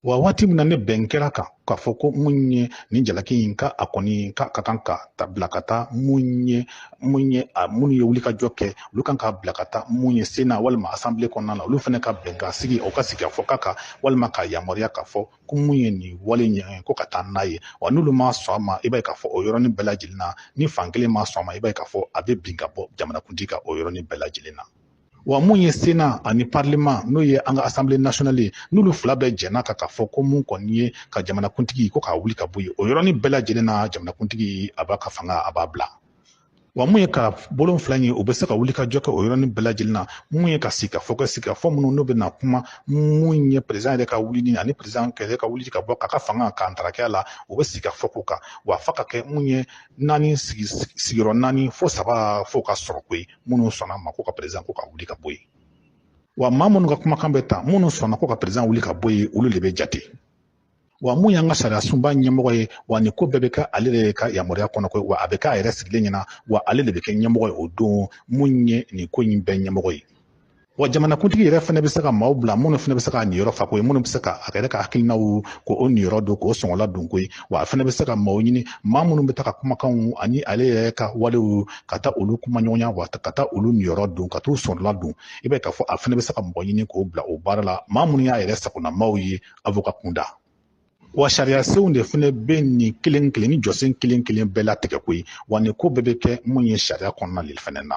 wa waati min na ni bɛn kɛra a kan k'a fɔ ko mun ye nin jalaki in ka a kɔni ka ka kan ka ta bila ka taa mun ye mun ye a minnu ye wulikajɔ kɛ olu kan ka bila ka taa mun ye sena walima asanbile kɔnɔna na olu fana ka bɛn ka sigi o ka sigikafɔ kɛ a kan walima ka yamaruya k'a fɔ ko mun ye nin wale in ko ka taa n'a ye wa n'olu ma sɔn a ma i b'a ye k'a fɔ o yɔrɔnin bɛɛ lajɛlen na ni fan kelen ma sɔn a ma i b'a ye k'a fɔ a bɛ bin ka bɔ jamanakuntigi kan o yɔrɔnin bɛɛ lajɛlen na wa mun ye sena ani parlema n'o ye an ka asanbile nasionali ye n'olu fila bɛɛ jɛnna a kan k'a fɔ ko mun kɔni ye ka jamanakuntigi ko k'a wuli ka bɔ yen o yɔrɔnin bɛɛ lajɛlen na jamanakuntigi a b'a ka fanga a b'a bila wa mun ye ka bulon fila ye o bɛ se ka wulikajɔ kɛ o yɔrɔnin bɛɛ lajɛlen na mun ye ka sigikafɔ kɛ sigikafɔ minnu n'o bɛ na kuma mun ye peresidan yɛrɛ ka wulili ani peresidan yɛrɛ ka wuli ka bɔ k'a ka fanga ka ntarakɛya la o bɛ sigikafɔ k'o kan wa fo ka kɛ mun ye naani sigiyɔrɔ naani fo saba fo ka sɔrɔ koyi minnu sɔnna a ma ko ka peresidan ko ka wuli ka bɔ yen wa maa minnu ka kumakan bɛ ta minnu sɔnna ko ka peresidan wuli ka bɔ yen olu de bɛ jate wa mun y'an ka sariyasunba ɲɛmɔgɔ ye wa nin ko bɛɛ bɛ kɛ ale de ka yamaruya kɔnɔ koyi wa a bɛ k'a yɛrɛ sigilen ɲɛ na wa ale de bɛ kɛ ɲɛmɔgɔ ye o don mun ye nin ko in bɛɛ ɲɛmɔgɔ ye wa jamanakuntigi yɛrɛ fana bɛ se ka maaw bila minnu fana bɛ se k'a niyɔrɔ fa koyi minnu bɛ se ka a yɛrɛ ka hakilinaw ko o niyɔrɔ don k'o sɔngɔla don koyi wa a fana bɛ se ka maaw ɲini maa minnu bɛ taa a ka kumakanw ani ale yɛrɛ ka walew ka taa olu kumaɲɔgɔnya wa ka taa olu niyɔrɔ don ka t'u sɔrɔla don i b'a k'a fɔ a fana bɛ se ka mɔgɔ ɲini k'o bila o baara la maa minnu y'a yɛrɛ sagona maaw ye avoka kunda wa sariyasenw de fana bɛ nin kelen kelen nin jɔsen kelen kelen bɛɛ latigɛ koyi wa nin ko bɛɛ bɛ kɛ mun ye sariya kɔnɔna de fana na